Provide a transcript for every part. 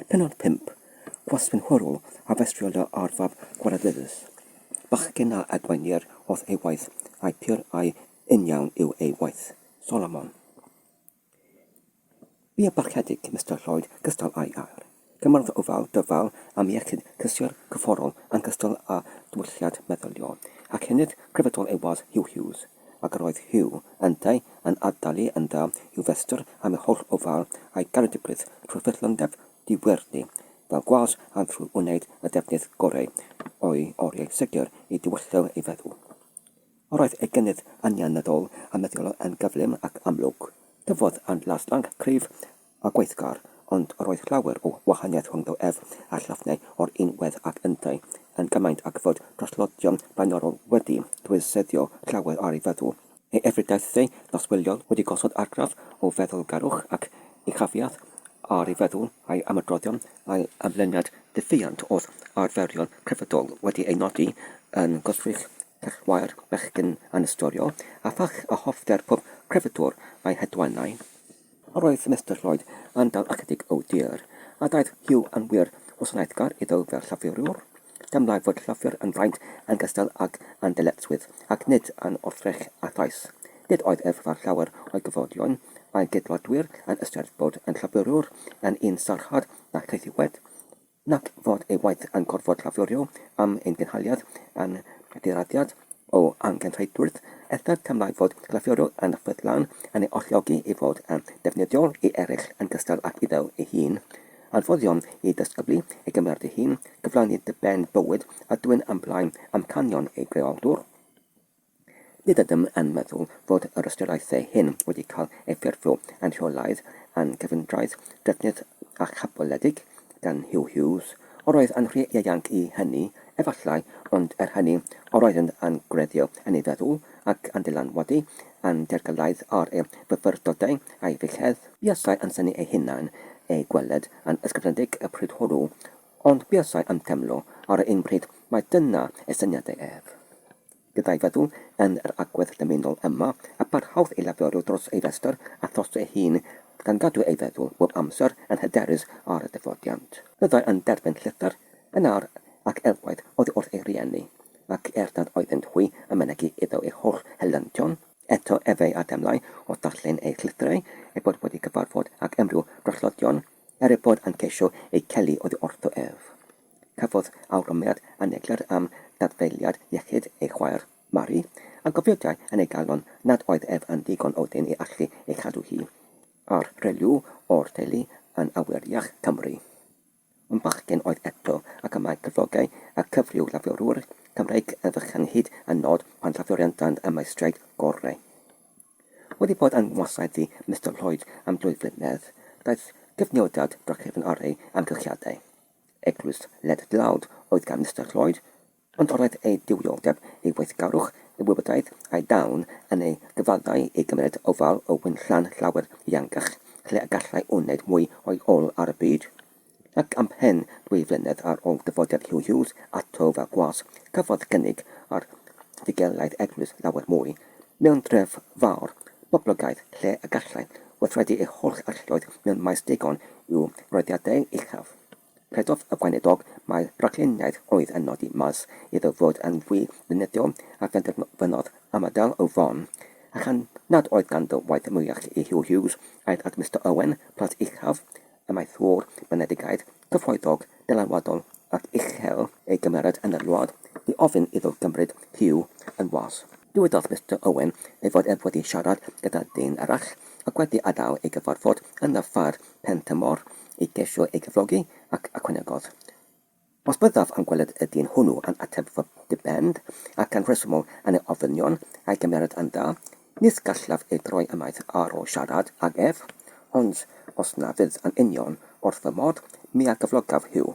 Pennod 5, Gwasgwyn Hwrwl a festriodd dy arfaf gwaradyddus. Bachgen a adwaenir wrth ei waith, a'i pur a'i uniawn yw ei waith. Solomon. Bu a barchedig Mister Lloyd gystal â'i air. Cymardd ofal dyfal am iechyd cysur cyfforol yn gystal â diwylliant meddyliol ac hynod grefyddol ei wadd Hugh Hughes. ac roedd Hugh, yntau, yn addalu yn dda i'w festr am ei holl ofal a'i garedigrwydd trwy'r ffyddlondeb diwrney fel gwas a thrwy wneud y defnydd goreu o'i oriau segur i dywyllo ei feddwl. Yr oedd ei gynnydd anianyddol a meddyliol yn gyflym ac amlwg. Tyfodd yn laslanc, cryf, a gweithgar, ond yr oedd llawer o wahaniaeth rhwngddo ef a Llyfnau o'r un wedd ac yntau, yn gymaint ac fod traslodion blaenorol wedi dwysseddio llawer ar ei feddwl. Ei efrydiaethau noswyliol wedi gosod argraff o feddylgarwch ac uchafiaeth ar ei feddwl a'i ymadroddion, a'i ymlyniad diffuant wrth arferion crefyddol wedi ei nodi yn gwrthrych cellwair bechgyn anystoriol, a phach a hoffter pob crefyddwr a'i hedwannau. Yr oedd Mister Lloyd yn dal ychydig o dir, a daeth Hugh yn wir wasanaethgar iddo fel llafuriwr. Deimlai fod llafur yn fraint yn gystal ag yn ddyletswydd, ac nid yn wrthrych a thrais. Nid oedd ef fel llawer o'i gyfoedion a'i gydwladwyr yn ystyried bod yn llafuriwr yn un sarhad na chaethiwed. Na'th fod ei waith yn gorfod llaflurio am ein gynhaliad yn ddiraddiad o angenrheidrwydd, eithr teimlai fod llaflurio yn ffyddlon yn ei alluogi i fod yn ddefnyddiol i eraill yn gystal ag iddo ei hun. Anfoddio'n i ddisgyblu ei gymeriad ei hun, cyflawni diben bywyd a dwyn ymlaen amcanion ei greoldwr. Nid ydym yn meddwl fod yr ystyriaethau hyn wedi cael eu ffurfio yn rheolaidd yn gyfundredd drydedd a chaboledig gan Huw Hughes. Yr oedd yn rhy ieuanc i hynny, efallai, ond er hynny, yr oeddent yn gwreiddio yn ei feddwl, ac yn dylanwadu yn dergylaidd ar ei fyfyrdodau a'i feichiau. Buasai yn synnu eu hunain eu gweled yn ysgrifenedig y pryd hwnnw, ond buasai yn teimlo ar yr un pryd mai dyna eu syniadau ef. Byddai feddwl yn yr agwedd dymunol yma, a barhaodd i laferio dros ei restr a thros ei hun, gan gadw ei feddwl bob amser yn hyderus ar y dyfodiant. Byddai yn derbyn llythyr yn awr ac elwaith oddi wrth ei rieni, ac er nad oeddent hwy yn mynegi iddo ei holl helyntion, eto efe a demlai o ddarllen eu llythyrau, eu bod wedi cyfarfod ag unrhyw drollodion Er ei bod yn ceisio ei chael oddi wrtho ef, cafodd awgrymiad aneglur am dadfeiliad iechyd ei chwaer, Mari, a gofydiai yn ei galon nad oedd ef yn ddigon odyn i allu ei chadw hi ar rhyw o'r teulu yn awyrach Cymru. Un bachgen oedd eto, ac y mae cyflogau y cyfryw-lafiorwyr Cymreig yn fychan hyd yn nod pan lafioriantand y maestriaid gorau. Wedi bod yng ngwasaith i Mister Lloyd am dwy flynedd, daeth cyfnodiad drachefn ar ei amgylchiadau. Eglwys led dlawd oedd gan Mister Lloyd, ond roedd ei diwioldeb, ei weithgarwch, ei wybodaeth a'i dawn yn ei gyfaddau i gymryd ofal o wynllan llawer ehangach, lle y gallai wneud mwy o'i ôl ar y byd. ac ymhen dwy flynedd ar ôl dyfodiad Huw Hughes ato fel gwas, cafodd gynnig ar fugelaidd eglwys lawer mwy, mewn dref fawr, boblogaidd, lle y gallai weithredu ei holl arlloedd mewn maes digon i'w roddiadau uchaf. Credodd y gweinidog mai rhagluniaeth oedd yn nodi maes iddo fod yn fwy beunyddiol a phenderfynodd ymadael â Vaughan, a chan nad oedd ganddo waith mwyach i Huw Hughes, aeth at Mister Owen, plas uchaf, Amaethwr Benedigaeth cyfoethog, dylanwadol ac uchel ei gymeriad yn yr wlad, i ofyn iddo gymryd Huw yn was. Dywedodd Mister Owen ei fod ef wedi siarad gyda dyn arall ac wedi adael ei gyfarfod yn y ffair Pentymor i geisio ei gyflogi ac ychwanegodd, Os byddaf yn gweled y dyn hwnnw yn ateb fy dibend, ac yn rhesymol yn ei ofynion, a'i gymeriad yn dda, nid gallaf ei droi ymaith ar ôl siarad ag ef, ond os na fydd yn union wrth fy modd, mi a gyflogaf Huw.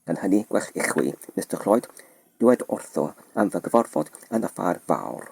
Gan hynny, gwell i chwi, Mister Cloyd, dywed wrtho am fy gyfarfod yn y ffair fawr.